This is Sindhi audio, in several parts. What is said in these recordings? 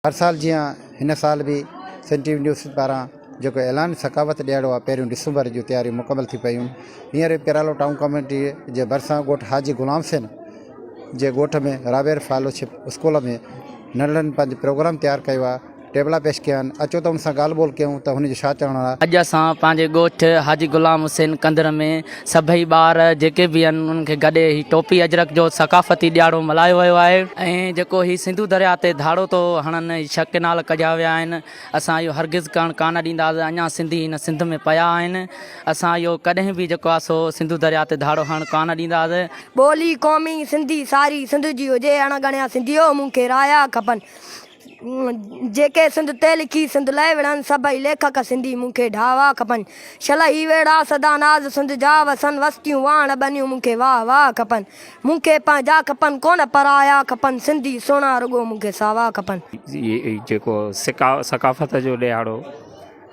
هر سال جيان هن سال به سنڌ ٽي وي نيوز پاران جيڪو اعلان ثقافت ڏيهاڙو آهي پهريون ڊسمبر جون تياريون مڪمل ٿي پيون هينئر پيرالو ٽائون ڪميٽي جي ڀرسان ڳوٺ حاجي غلام حسين جي ڳوٺ ۾ رابير فالوشپ اسڪول ۾ ننڍڙن پنهنجو پروگرام تيار ڪيو آهي ٽيبلا پيش ڪيا آهن اچو ته ان سان ڳالهه ٻولهه ڪيون ته هن جو ڇا چوڻ آهي. اڄ اسان پنهنجي ڳوٺ حاجي غلام حسين ڪنڌر ۾ سڀئي ٻار جيڪي به آهن انهن کي گڏي هي ٽوپي اجرڪ جو ثقافتي ڏياڙو ملهايو ويو آهي ۽ جيڪو هي سنڌو درياء تي ڌاڙو ٿو هڻن هي ڇهه ڪئنال ڪڍيا ويا آهن اسان اهو هرگز ڪرڻ ڪانه ڏينداس اڃا سنڌي هن سنڌ ۾ پيا آهن اسان اهو ڪڏهن به جيڪو آهي سو سنڌو درياء تي ڌاڙو هڻڻ ڪانه ڏينداس. ٻولي قومي سنڌي ساري سنڌ جي هجي اڻ ڳڻيا سنڌيو مون کي رايا کپن. جيڪي سنڌ تي لکي سنڌ لاء وڙهن سڀئي ليکڪ سنڌي مون کي ڍاوا کپن شل هي ويڙها سدا ناز سنڌ جا وسن وستيون واهڻ ٻنيون مون کي واهه واهه کپن مون کي پنهنجا کپن ڪونه پرايا کپن سنڌي سهڻا رڳو مون کي ساوا کپن. جيڪو ثقافت جو ڏيهاڙو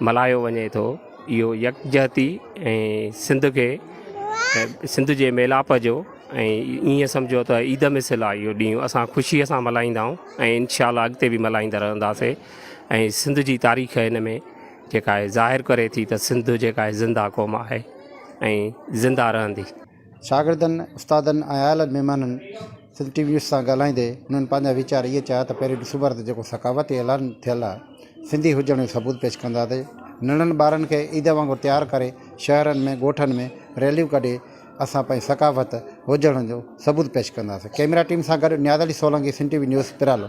ملهايو وڃي ٿو اهو يڪجهتي ۽ سنڌ کي سنڌ جي ميلاپ جو ۽ ائين سمجهو ته عيد مثل آهي اهو ڏينهن اسان خوشيء سان ملهائيندا آهيون ۽ انشاء الله اڳتي به ملهائيندا رهنداسي ۽ سنڌ جي تاريخ هن ۾ جيڪا آهي ظاهر ڪري ٿي ته سنڌ جيڪا آهي زنده قوم آهي ۽ زنده رهندي شاگردن، استادن ۽ آيل مهمانن سنڌ ٽي وي نيوز سان ڳالهائيندي هنن پنهنجا ويچار اهي چيا ته پهرين ڏسون ٻار ته جيڪو ثقافتي اعلان ٿيل آهي سنڌي هجڻ جو ثبوت پيش ڪنداسي ننڍن ٻارن کي عيد وانگر تيار ڪري شهرن ۾ ڳوٺن ۾ ريليون ڪڍي اسان پنهنجي ثقافت هجڻ جو ثبوت پيش ڪنداسي ڪئميرا ٽيم سان گڏ Niaz Ali Solangi Sindh T V news پرالو.